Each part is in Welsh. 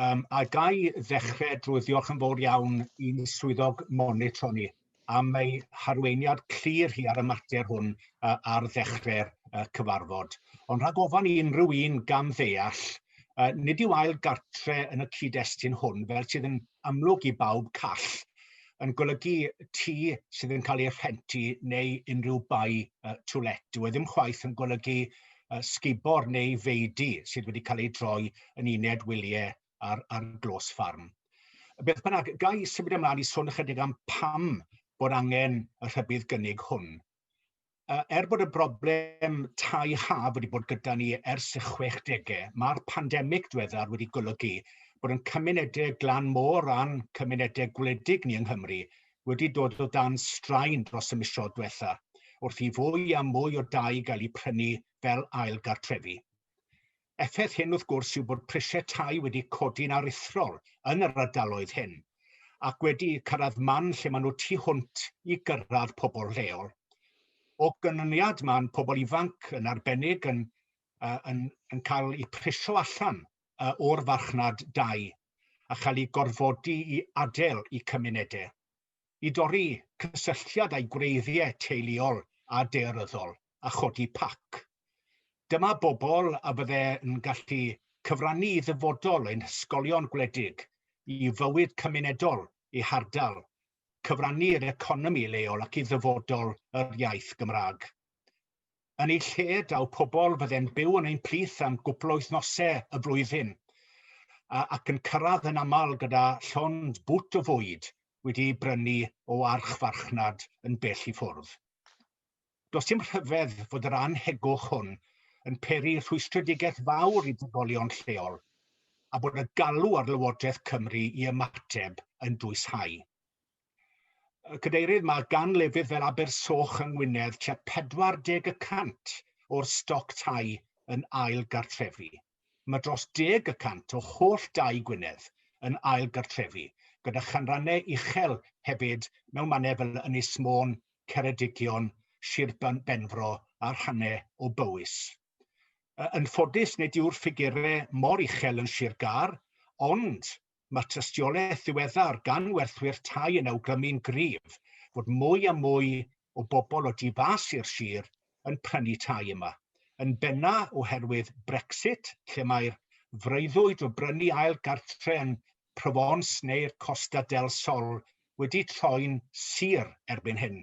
Um, a ga i ddechrau drwy ddiolch yn fawr iawn i'n swyddog monitro ni am ei harweiniad clir hi ar y mater hwn uh, ar ddechrau'r uh, cyfarfod. Ond rhag ofan i unrhyw un gam ddeall, uh, nid yw ail gartre yn y cyd-destun hwn, fel sydd yn amlwg i bawb call, yn golygu tŷ sydd yn cael ei rhenti neu unrhyw bai uh, to let. Dwi e ddim chwaith yn golygu uh, sgubor neu feidu sydd wedi cael ei droi yn uned wyliau ar, ar glos ffarm. Beth bynnag, gai symud ymlaen i sôn ychydig am pam bod angen y rhybudd gynnig hwn. Uh, er bod y broblem tai haf wedi bod gyda ni ers y 60au, mae'r pandemig diweddar wedi golygu bod yn cymunedau glan môr a'n cymunedau gwledig ni yng Nghymru wedi dod o dan straen dros y misoedd diwetha' wrth i fwy a mwy o dai gael eu prynu fel ail gartrefi. Effaith hyn wrth gwrs yw bod prisiau tai wedi codi'n aruthrol yn yr ardaloedd hyn ac wedi cyrraedd man lle maen nhw tu hwnt i gyrraedd pobl lleol. O ganlyniad mae'n pobl ifanc yn arbennig yn, yn, yn cael eu priso allan o'r farchnad dai a chael eu gorfodi i adael eu cymunedau, i dorri cysylltiad â'u gwreiddiau teuluol a daearyddol a chodi pac. Dyma bobl a fydde'n gallu cyfrannu i ddyfodol ein hysgolion gwledig, i fywyd cymunedol eu hardal cyfrannu i'r economi leol ac i ddyfodol yr iaith Gymraeg. Yn ei lle, daw pobl fydde'n byw yn ein plith am gwpl o wythnosau y flwyddyn, ac yn cyrraedd yn aml gyda llond bwt o fwyd wedi ei brynu o archfarchnad yn bell i ffwrdd. Does dim rhyfedd fod yr annhegwch hwn yn peri rhwystredigaeth fawr i drigolion lleol a bod y galw ar Lywodraeth Cymru i ymateb yn dwyshau. Cadeirydd, mae gan lefydd fel Abersoch yng Ngwynedd tua 40 y cant o'r stoc tai yn ail gartrefi. mae dros deg y cant o holl dai Gwynedd yn ail gartrefi, gyda chanrannau uchel hefyd mewn mannau fel Ynys Môn, Ceredigion, Sir Benfro a rhannau o Bowys. Yn ffodus nid yw'r ffigurau mor uchel yn Sir Gâr, ond Mae tystiolaeth ddiweddar gan werthwyr tai yn awgrymu'n gryf fod mwy a mwy o bobl o du fas i'r sir yn prynu tai yma, yn benna oherwydd Brexit, lle mae'r freuddwyd o brynu ail gartre yn Provence neu'r Costa del Sol wedi troi'n sur erbyn hyn.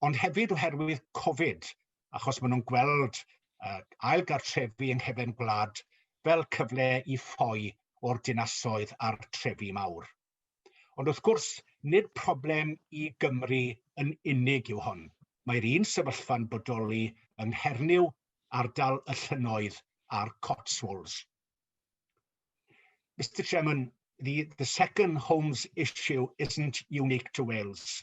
ond hefyd oherwydd Covid, achos maen nhw'n gweld uh, ail gartrefi yng nghefn gwlad fel cyfle i ffoi o'r dinasoedd a'r trefi mawr. Ond wrth gwrs, nid problem i Gymru yn unig yw hon. Mae'r un sefyllfa'n bodoli yng Nghernyw, ardal y llynnoedd a'r Cotswolds. Mr Chairman, the, the second homes issue isn't unique to Wales.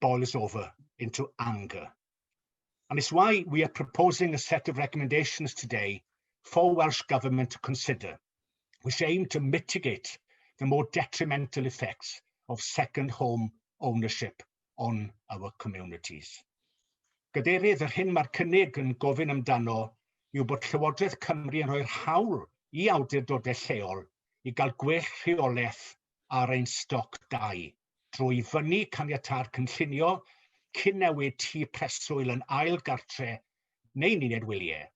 boils over into anger. And it's why we are proposing a set of recommendations today for Welsh Government to consider, which aim to mitigate the more detrimental effects of second home ownership on our communities. Gadeirydd, yr hyn mae'r cynnig yn gofyn amdano yw bod Llywodraeth Cymru yn rhoi'r hawl i awdurdodau lleol i gael gwell rheolaeth ar ein stoc dau drwy fynnu caniatâd cynllunio cyn newid tŷ preswyl yn ail gartre neu'n uned wyliau,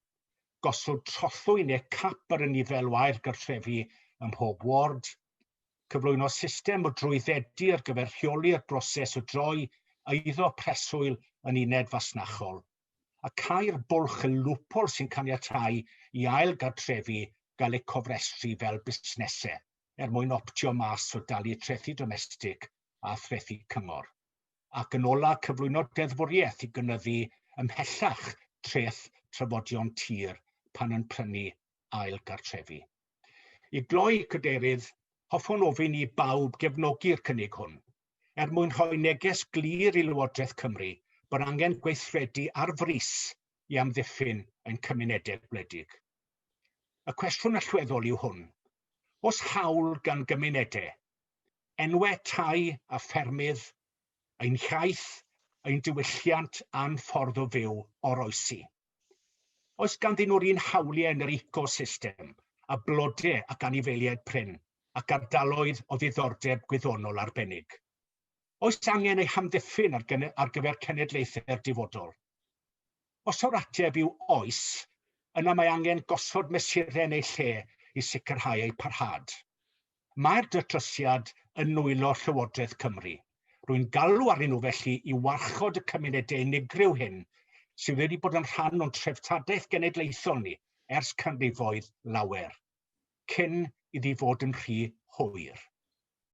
gosod trothwy neu cap ar y nifer o ail gartrefi ym mhob ward, cyflwyno system o drwyddedu ar gyfer rheoli'r broses o droi eiddo preswyl yn uned fasnachol, a cau'r bwlch y lwpol sy'n caniatáu i ail gartrefi gael eu cofrestru fel busnesau. er mwyn optio mas o dalu trethi domestig a threthi cyngor, ac yn ola cyflwyno deddfwriaeth i gynyddu ymhellach treth trafodion tir pan yn prynu ail gartrefi. I gloi, Cadeirydd, hoffwn ofyn i bawb gefnogi'r cynnig hwn, er mwyn rhoi neges glir i Lywodraeth Cymru bod angen gweithredu ar frys i amddiffyn ein cymunedau gwledig. Y cwestiwn allweddol yw hwn, Oes hawl gan gymunedau, enwau tai a ffermydd, ein hiaith, ein diwylliant a'n ffordd o fyw oroesi? Oes ganddyn nhw'r un hawliau yn yr ecosystem a blodau ac anifeiliaid prin ac ardaloedd o ddiddordeb gwyddonol arbennig? Oes angen eu hamddiffyn ar gyfer cenedlaethau'r dyfodol? Os yw'r ateb yw oes, yna mae angen gosod mesurau yn eu lle i sicrhau eu parhad. Mae'r datrysiad yn nwylo Llywodraeth Cymru. Rwy'n galw arnyn nhw felly i warchod y cymunedau unigryw hyn sydd wedi bod yn rhan o'n treftadaeth genedlaethol ni ers canrifoedd lawer, cyn iddi fod yn rhy hwyr.